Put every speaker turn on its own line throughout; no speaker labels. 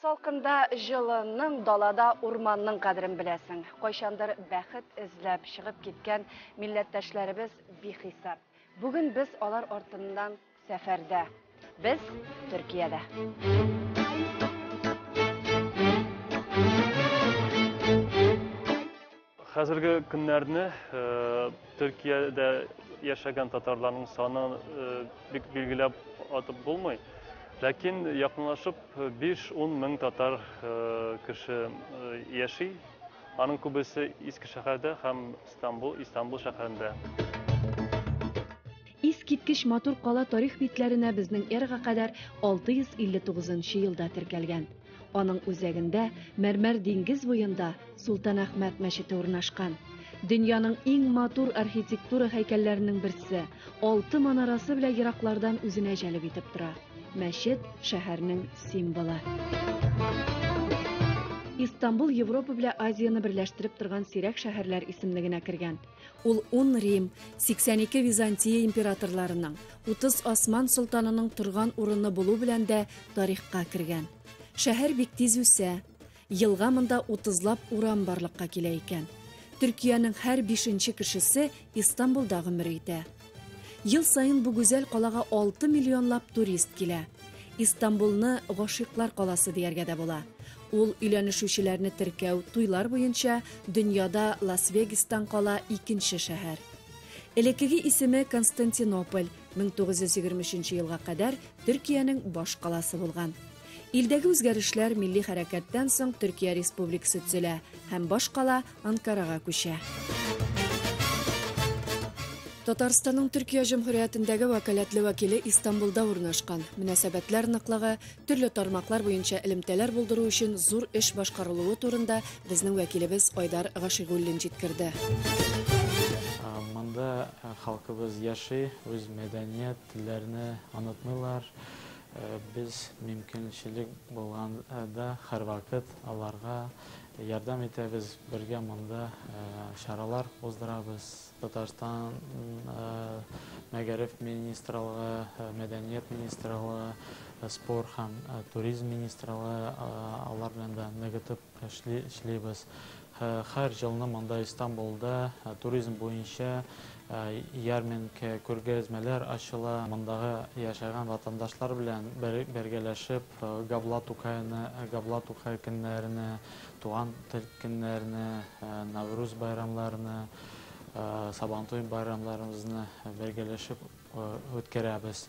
Салкында җылының, далада урманның кадерен беләсең. Кайчандыр бәхет эзләп чыгып киткән милләттәшләребез бихисап. Бүген без алар артыннан Сәфәрдә. Без Төркиядә.
Хәзерге көннәрне э, Төркиядә яшәгән татарларның саны э, бик билгеләп атып булмый. Ләкин якынлашып 5-10 мең татар э, кеше яши. Аның күбесе Иске шәһәрдә һәм Стамбул, Истанбул шәһәрендә.
Искиткеч матур кала тарих битләренә безнең эрага кадәр 659 нчы елда теркәлгән. Аның үзәгендә, мәрмәр диңгез буенда, Солтанәхмәт мәчете урнашкан. Дөньяның иң матур архитектура һәйкәлләренең берсе, алты манарасы белән ераклардан үзенә җәлеп итеп тора. Мәчет, шәһәрнең символы. Истанбул Европа белән Азияне берләштереп торган сирәк шәһәрләр исемлегенә кергән. Ул ун Рим, 82 Византия императорларының, 30 Осман солтанының торган урыны булу белән дә тарихка кергән. Шәһәр бик тиз үсә. Елга монда 30лап урам барлыкка килә икән. Төркиянең һәр бишенче кешесе Истанбулда гомер итә. Ел саен бу гүзәл калага алты миллионлап турист килә. Истанбулны гашыйклар каласы дияргә дә була. Ул өйләнешүчеләрне теркәү, туйлар буенча дөньяда Лас-Вегастан кала икенче шәһәр. Элеккеге исеме Константинополь, 1923 елга кадәр Төркиянең баш каласы булган. Илдәге үзгәрешләр милли хәрәкәттән соң Төркия республикасы төзелә һәм баш кала Анкарага күчә. Татарстанның Төркия Җөмһүриятендәге вәкаләтле вәкиле Истанбулда урнашкан. Мөнәсәбәтләр ныклыгы, төрле тармаклар буенча элемтәләр булдыру өчен зур эш башкарылуы турында безнең вәкилебез Айдар Гашигуллин җиткерде. Монда
халкыбыз яши, үз мәдәният, телләрне онытмыйлар. Без мөмкинчелек булганда һәрвакыт аларга ярдәм итәбез, бергә монда чаралар уздырабыз. Татарстан Мәгариф министрлыгы, Мәдәният министрлыгы, Спорт һәм туризм министрлыгы алар белән дә ныгытып Эшли, эшлибез. Хәр елны монда Истанбулда туризм буенча ярминкә, күргәзмәләр ачыла. Мондагы яшәгән ватандашлар белән бергәләшеп Габла Тукайны, Габла Тукай көннәренә, Туган тел көннәренә, Навруз байрамларына, Сабантуй байрамларыбызны бергәләшеп үткәрәбез.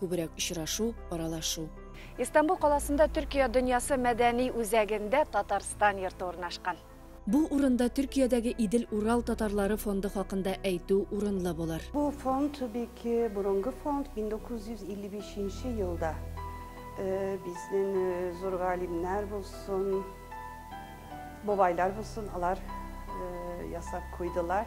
күбрәк очрашу, аралашу. Истанбул каласында Төркия дөньясы мәдәни үзәгендә Татарстан йорты урнашкан. Бу урында Төркиядәге Идел-Урал татарлары фонды хакында әйтү урынлы булыр. Бу фонд бик
борынгы фонд, 1955 елда безнең зур галимнәр булсын, бабайлар булсын, алар ясап куйдылар.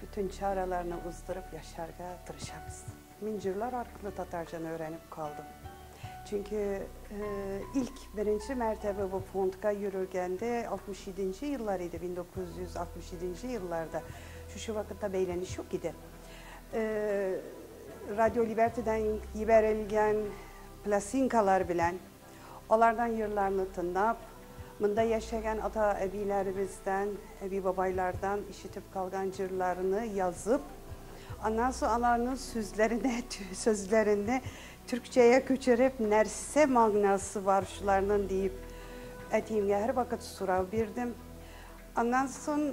Бөтен чараларны уздырып яшәргә тырышабыз. Мин җырлар аркылы татарчаны өйрәнеп калдым. Чөнки илк беренче мәртәбә бу фондка йөрергәндә 67-нче еллар иде, 1967-нче елларда. Шушы вакытта бәйләнеш юк иде. Радио Либертидан ебәрелгән пластинкалар белән Алардан йырларны тынлап, монда яшәгән ата-әбиләребездән, әби-бабайлардан ишетеп калган җырларны язып, аннан соң аларның сүзләренә, сүзләренне төркчәгә күчереп, нәрсә магнасы бар шуларның диеп, әтиемгә һәрвакыт сорау бирдем. Аннан соң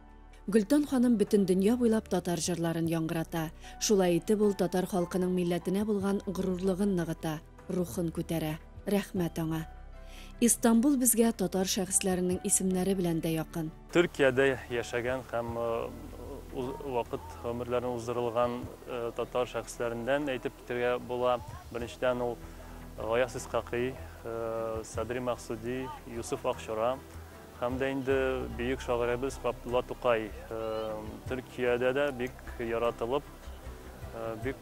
Гөлтан
ханым бөтен дөнья буйлап татар җырларын яңгырата. Шулай итеп ул татар халкының милләтенә булган горурлыгын ныгыта, рухын күтәрә. Рәхмәт аңа. Истанбул безгә татар шәхесләренең исемнәре белән дә якын. Төркиядә
яшәгән һәм ул вакыт гомерләрен уздырылган татар шәхесләреннән әйтеп китергә була. Беренчедән ул Гаяз Искакый, Садри Максуди, Юсуф Акчура, Һәм дә инде бөек шагыйрәбез Габдулла Тукай Төркиядә дә бик яратылып, бик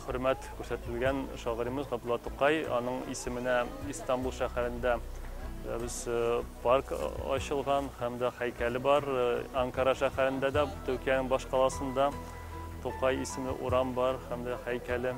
хөрмәт күрсәтелгән шагыйребез Габдулла Тукай. Аның исеменә Истанбул шәһәрендә без парк ачылган һәм дә һәйкәле бар. Анкара шәһәрендә дә, Төркиянең баш каласында Тукай исемле урам бар һәм дә һәйкәле.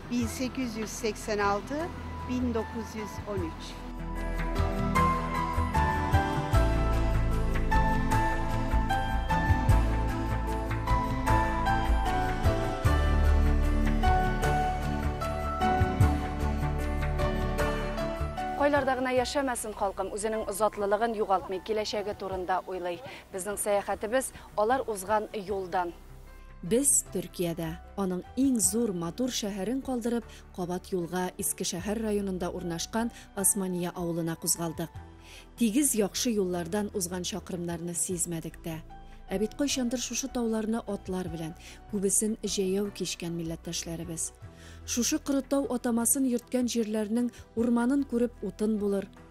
1886-1913
Кайларда гына яшәмәсен халкым, үзенең затлылыгын югалтмый, киләчәге турында уйлый. Безнең сәяхәтебез алар узган юлдан. Без Төркиядә, аның иң зур, матур шәһәрен калдырып, кабат юлга Иске шәһәр районында урнашкан Османия авылына кузгалдык. Тигез яхшы юллардан узган чакрымнарны сизмәдек тә. Ә бит кайчандыр шушы тауларны атлар белән, күбесен җәяү кичкән милләттәшләребез. Шушы коры тау атамасын йөрткән җирләрнең урманын күреп утын булыр,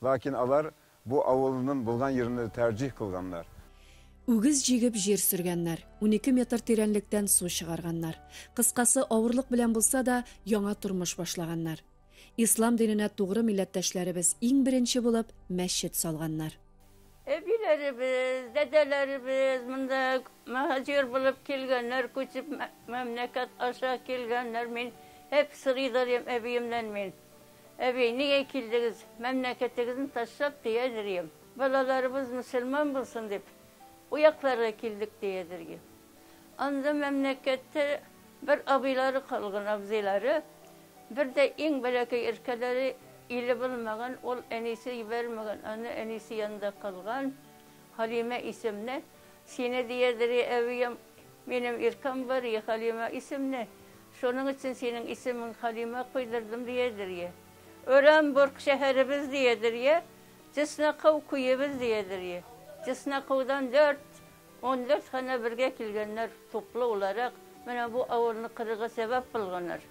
Ләкин алар бу авылынын булган йирне тәрҗиһ кылганнар. Үгез
җигеп җир сөргәннәр, унике метр тирәнлектән су чыгарганнар. Кыскасы, авырлык белән булса да, яңа тормыш башлаганнар. Ислам диненә тугры милләттәшләребез иң беренче булып мәчет салганнар. Әбиләребез,
дәдәләребез монда мөһаҗир булып килгәннәр, күчеп мәмләкәт аша килгәннәр. Мин һәп сорый да алам әбиемнән мин. Әби, нигә килдегез? Мәмләкәтегезне ташлап, диядерьем. Балаларыбыз мөселман булсын дип, уякларга килдек, диядерьем. Анда мәмләкәттә бер абыйлары калган, абзыйлары, бер дә иң бәләкәй эркәләре иле булмаган, ул әнисе җибәрмәгән, аны әнисе янында калган, Халимә исемле. Сине диярдер, и әбием, минем иркәм бар, и Хәлимә исемле, шуның өчен синең исемең Хәлимә куйдырдым, диярдер, и Оренбург шәһәребез, диярдер, и Чесноков күебез, диярдер, и Чесноковдан дүрт, ундүрт ханә бергә килгәннәр, туплы уларак, менә бу авылны кырырга сәбәп булганнар.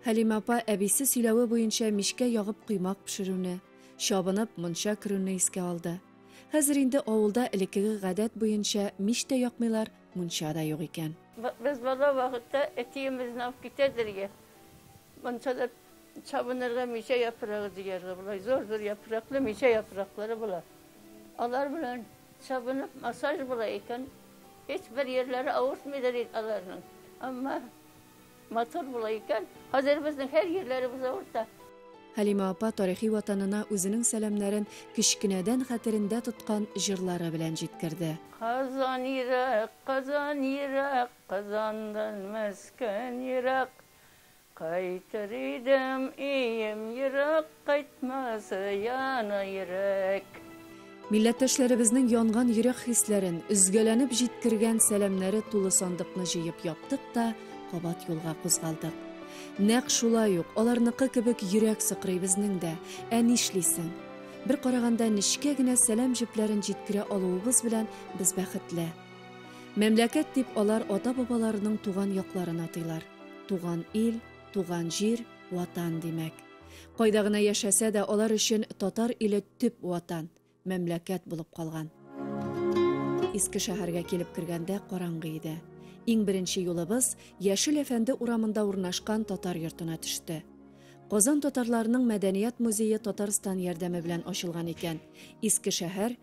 Хәлимә апа
әбисе сөйләве буенча мичкә ягып коймак пешерүне, чабынып, монча керүне искә алды. Хәзер инде авылда элеккеге гадәт буенча мич тә якмыйлар, мунча да юк икән. Без бала
вакытта әтиемезнең алып китә дергә, мунчада чабынырга мичә яфрагы җыярга, болай зур-зур яфраклы мичә яфраклары була. Алар белән чабынып массаж була икән, һичбер йирләре авыртмыйдыр иде аларның. Әмма Матур була икән, хәзер безнең һәр җирләребез авырта. Хәлимә апа
тарихи ватанына үзенең сәламнәрен кечкенәдән хәтерендә тоткан җырлары белән җиткерде. Казан
ерак, Казан ерак, Казандан Мәскән ерак. Кайтыр идем, өем ерак, Кайтмас яна йөрәк.
Милләттәшләребезнең янган йөрәк хисләрен, өзгәләнеп җиткергән сәламнәре тулы сандыкны җыеп яптык та, кабат юлга кузгалдык. Нәкъ шулай ук, аларныкы кебек йөрәк сыкрый безнең дә, ә нишлисең. Бер караганда, нечкә генә сәлам җепләрен җиткерә алуыбыз белән без бәхетле. Мәмләкәт дип алар ата-бабаларының туган якларын атыйлар. Туган ил, туган җир, Ватан, димәк. Кайда гына яшәсә дә, алар өчен татар иле төп ватан, мәмләкәт булып калган. Иске шәһәргә килеп кергәндә караңгы иде. Иң беренче юлыбыз Яшел әфәнде урамында урнашкан татар йортына төште. Казан татарларының мәдәният музее Татарстан ярдәме белән ачылган икән. Иске шәһәр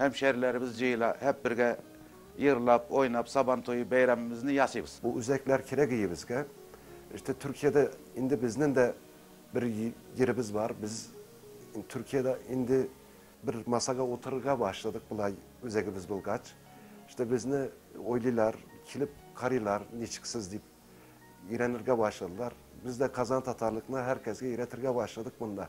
Һәмшәрләребез җыела, һәп бергә йырлап, ойнап, Сабан туе бәйрәмебезне ясыйбыз. Бу үзәкләр кирәк
иебезгә. Эштә Төркиядә инде безнен дә бер йеребез бар. Без Төркиядә инде бер масага утырырга башладык болай үзәгебез булгач. Эштә безне уйлыйлар, килеп карыйлар, ничек сез дип өйрәнергә башладылар. Без дә Казан татарлыкны һәркәсгә өйрәтергә башладык монда.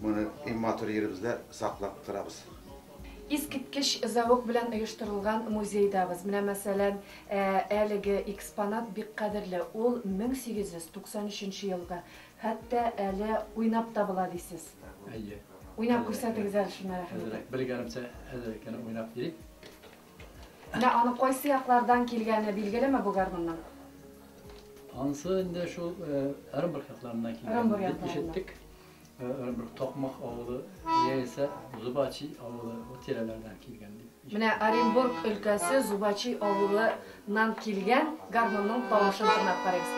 Моны иң матур йиребездә саклап торабыз. Искиткеч
зәвык белән оештырылган музейдабыз. Менә мәсәлән, әлеге экспонат бик кадерле, ул 1893 елгы, хәтта әле уйнап та була дисез. Әйе. Уйнап күрсәтегез әле шуны, рәхим итеп. Бер гармунчы
әзер икән, уйнап йири.
Менә аның кайсы яклардан килгәне билгелеме бу гармунның?
Анысы инде шул Ырымбург якларыннан килгән дип ишеттек. Ырымбург Токмак авылы яисә Зубачи авылы бу тирәләрдән килгән дип. Менә Оренбург
өлкәсе Зубачи авылыннан килгән гармунның тавышын тыңлап карыйк.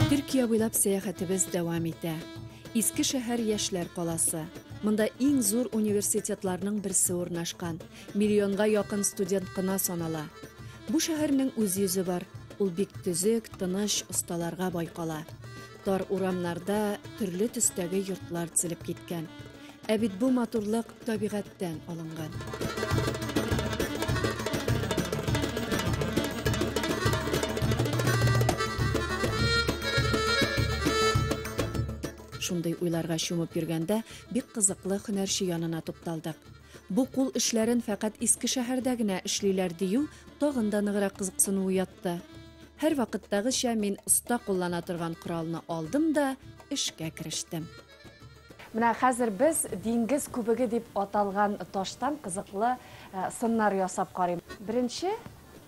Төркия буйлап сәяхәтебез дәвам итә. Иске шәһәр яшьләр каласы. Монда иң зур университетларның берсе урнашкан. Миллионга якын студент кына санала. Бу шәһәрнең үз йөзе бар. Ул бик төзек, тыныч, осталарга бай кала. Тар урамнарда төрле төстәге йортлар тезелеп киткән. Ә бит бу матурлык табигатьтән алынган. Шундый уйларга чумып йөргәндә, бик кызыклы һөнәрче янына тукталдык. Бу кул эшләрен фәкать Искешәһәрдә генә эшлиләр, дию тагын да ныграк кызыксыну уятты. Һәрвакыттагыча мин оста куллана торган коралны алдым да эшкә керештем. Менә хәзер без диңгез күбеге дип аталган таштан кызыклы сыннар ясап карыйм. Беренче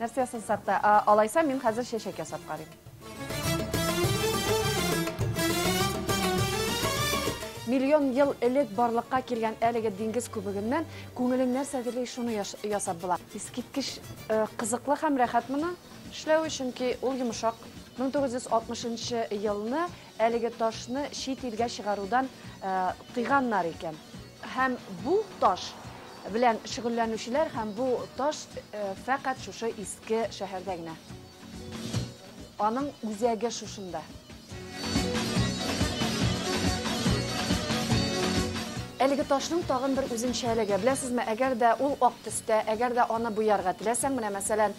Нәрсә сызсак та, алайса мин хәзер чәчәк ясап карыйм. Миллион ел элек барлыкка килгән әлеге диңгез күбегеннән күңелең нәрсә дили шуны ясап була. Искиткеч э, кызыклы һәм рәхәт моны эшләү, чөнки ул йомшак. 1960 елны Әлеге ташны чит илгә чыгарудан тыйганнар икән. Һәм бу таш белән шөгыльләнүчеләр һәм бу таш фәкать шушы иске шәһәрдә генә. Аның үзәге шушында. Әлеге ташның тагын бер үзенчәлеге, беләсезме, әгәр дә ул ак төстә, әгәр дә аны буярга теләсәң, менә мәсәлән,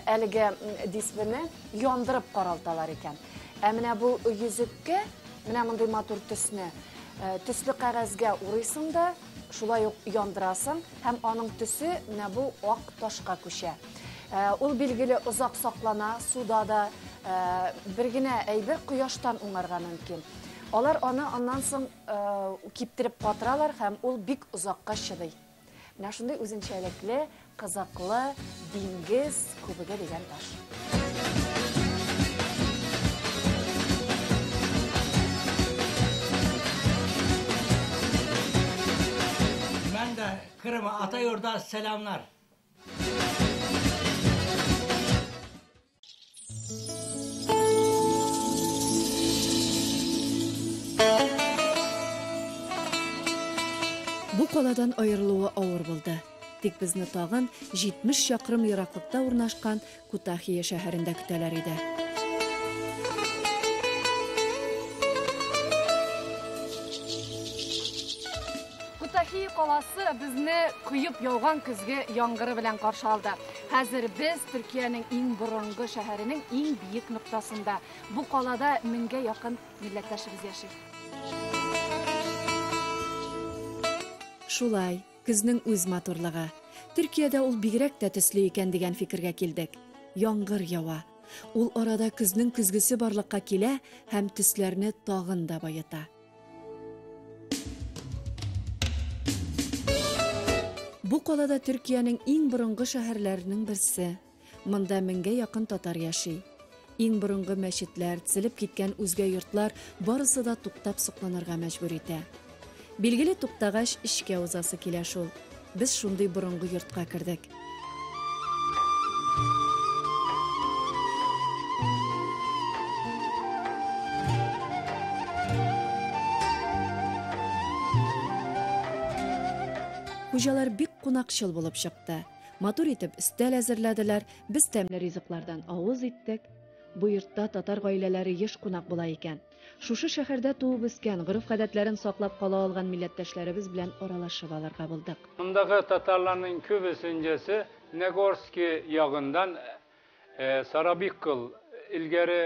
әлеге дисбене яндырып каралталар икән. Ә менә бу йөзеккә, менә мондый матур төсне, э, төсле кәгазьгә урыйсың да, шулай ук яндырасың һәм аның төсе менә бу ак ташка күчә. Э, ул билгеле озак саклана, суда да э, бер генә әйбер кояштан уңарга мөмкин. Алар аны аннан соң киптереп катыралар һәм ул бик озакка чыдый. Менә шундый үзенчәлекле, кызыклы диңгез күбеге дигән таш.
Мен дә Крыма, ата йорда сәламнар.
Бу каладан аерылуы авыр булды. Тик безне тагын 70 чакрым ераклыкта урнашкан Кутахия шәһәрендә көтәләр иде. Кутахия каласы безне коеп яуган көзге яңгыры белән каршы алды. Хәзер без Төркиянең иң борынгы шәһәренең иң биек ноктасында. Бу калада меңгә якын милләттәшебез яши. Шулай, көзнең үз матурлыгы. Төркиядә ул бигрәк тә төсле икән дигән фикергә килдек. Яңгыр ява. Ул арада көзнең көзгесе барлыкка килә һәм төсләрне тагын да баета. Бу калада Төркиянең иң борынгы шәһәрләренең берсе. Монда меңгә якын татар яши. Иң борынгы мәчетләр, тезелеп киткән үзгә йортлар барысы да туктап сокланырга мәҗбүр итә. Билгеле туктагач, эчкә узасы килә шул. Без шундый борынгы йортка кердек. Хуҗалар бик кунакчыл булып чыкты. Матур итеп өстәл әзерләделәр, без тәмле ризыклардан авыз иттек. Бу йортта татар гаиләләре еш кунак була икән. Шушы шәһәрдә туып-үскән, гореф-гадәтләрен саклап кала алган милләттәшләребез белән аралашып алырга булдык. Мондагы татарларның
күбесенҗәсе Нагорски ягындан, ә Сарабиккл, элгәре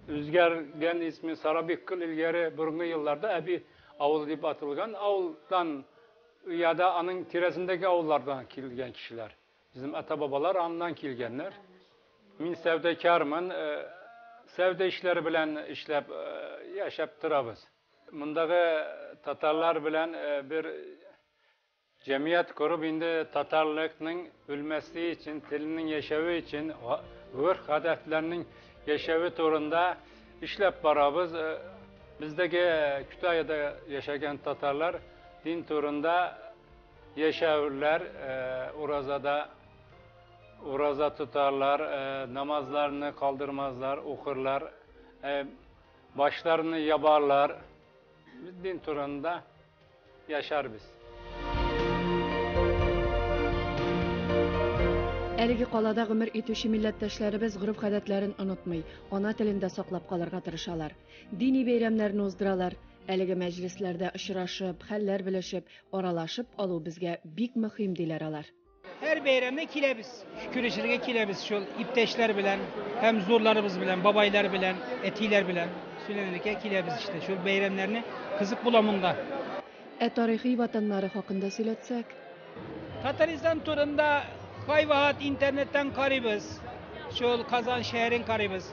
үзгәргән исме Сарабиккл элгәре борынгы елларда Әби авылы дип аталган авылдан яда аның тирәсендәге авыллардан килгән кешеләр. Безнең ата-бабалар аннан килгәннәр. Мин сәүдәкармын, э, сәүдә эшләре белән эшләп э, яшәп торабыз. Мондагы татарлар белән э, бер җәмият корып инде татарлыкның үлмәсе өчен, теленең яшәве өчен, гөрх-гадәтләрнең яшәве турында эшләп барабыз. Бездәге Китайда яшәгән татарлар дин турында Яшәверләр, уразада ураза тотарлар, намазларны калдырмазлар, укырлар, башларны ябарлар. Без дин турында яшәрбез.
Әлеге калада гомер итүче милләттәшләребез гореф-гадәтләрен онытмый, ана телен дә саклап калырга тырышалар. Дини бәйрәмнәрне уздыралар. Әлеге мәҗлесләрдә очрашып, хәлләр белешеп, Аралашып алу безгә бик мөхим, диләр алар. Һәр бәйрәмне
киләбез. Күрешергә киләбез шул иптәшләр белән һәм зурларыбыз белән, бабайлар белән, әтиләр белән сөйләнергә киләбез иштә. Шул бәйрәмнәрне кызык була монда. Ә тарихи
ватаннары хакында сөйләтсәк? Татарстан
турында кайвакыт интернеттан карыйбыз. Шул Казан шәһәрен карыйбыз.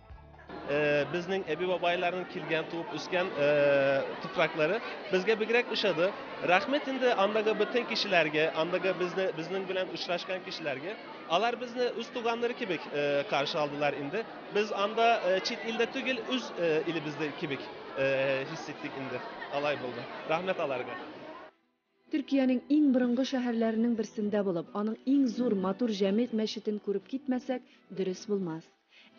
Э,
безнең әби бабайларның килгән туып үскән э, туфраклары безгә бигрәк ошады рәхмәт инде андагы бөтен кешеләргә андагы безне безнең белән очрашкан кешеләргә алар безне үз туганнары кебек э, каршы алдылар инде без анда чит илдә түгел үз илебездә кебек хис иттек инде алай булды рәхмәт аларга
Төркиянең иң борынгы шәһәрләренең берсендә булып, аның иң зур, матур Җәмигъ мәчетен күреп китмәсәк, дөрес булмас.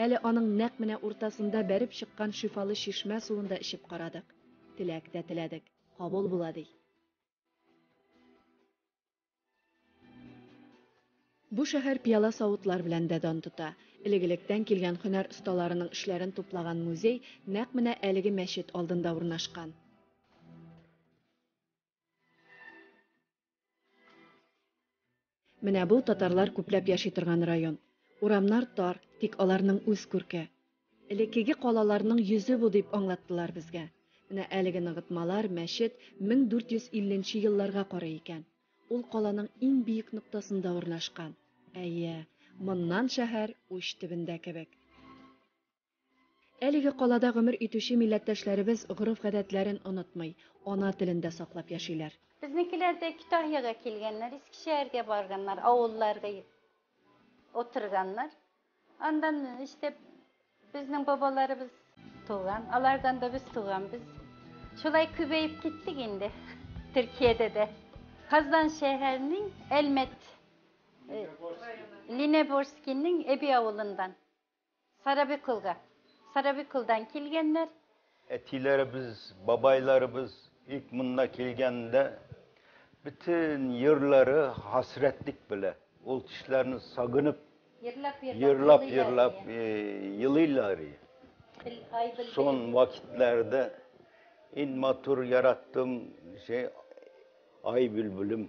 Әле аның нәкъ менә уртасында бәреп чыккан шифалы чишмә суын да эчеп карадык. Теләк тә теләдек. Кабул була, ди. Бу шәһәр пыяла-савытлар белән дә дан тота. Элек-электән килгән һөнәр осталарының эшләрен туплаган музей нәкъ менә әлеге мәчет алдында урнашкан. Менә бу татарлар күпләп яши торган район. Урамнар тар, тик аларның үз күрке. Элеккеге калаларның йөзе бу дип аңлаттылар безгә. Менә әлеге ныгытмалар, мәчет 1450 нче елларга карый икән. Ул каланың иң биек ноктасында урнашкан. Әйе, моннан шәһәр уч төбендә кебек. Әлеге калада гомер итүче милләттәшләребез гореф-гадәтләрен онытмый, ана телен дә саклап яшиләр. Безнекеләр дә
Китаһиягә килгәннәр, Иске Шәһәргә барганнар, авылларга утырганнар. Андан иштеп, безнең бабаларыбыз туган, алардан да без туган. Без шулай күбәеп киттек инде Төркиядә дә. Казан шәһәренең Әлмәт Ленеборскиның Эби авылыннан. Сарабикулга. Сарабикулдан килгәннәр. Әтиләребез,
бабайларыбыз ик монда килгәндә бөтен йырлары хасрәтлек белә. Ул кешеләрне сагынып, йырлап-йырлап елыйлар. Сон вакытларда ин матур яраттым, җәй ай бөлбелем.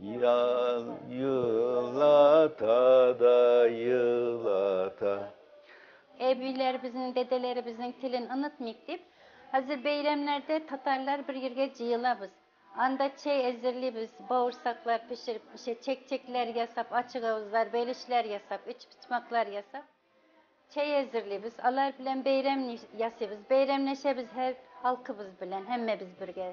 Ял елата да елата.
Әбиләребезнең, дәдәләребезнең телен онытмыйк дип, хәзер бәйрәмнәрдә татарлар бер йиргә җыелабыз. Анда чәй әзерлибез, бавырсаклар пешереп, кичә чәкчәкләр ясап, ачык авызлар, бәйлешләр ясап, өчпочмаклар ясап, чәй әзерлибез. Алар белән бәйрәм ясыйбыз, бәйрәмләшәбез һәр халкыбыз белән, һәммәбез бергә.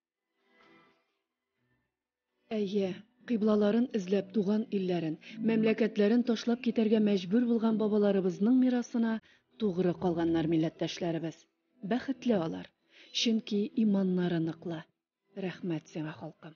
Әйе, кыйблаларын эзләп туган илләрен, мәмләкәтләрен ташлап китәргә мәҗбүр булган бабаларыбызның мирасына тугры калганнар милләттәшләребез. Бәхетле алар, чөнки иманнары ныклы. Рәхмәт сиңа, халкым.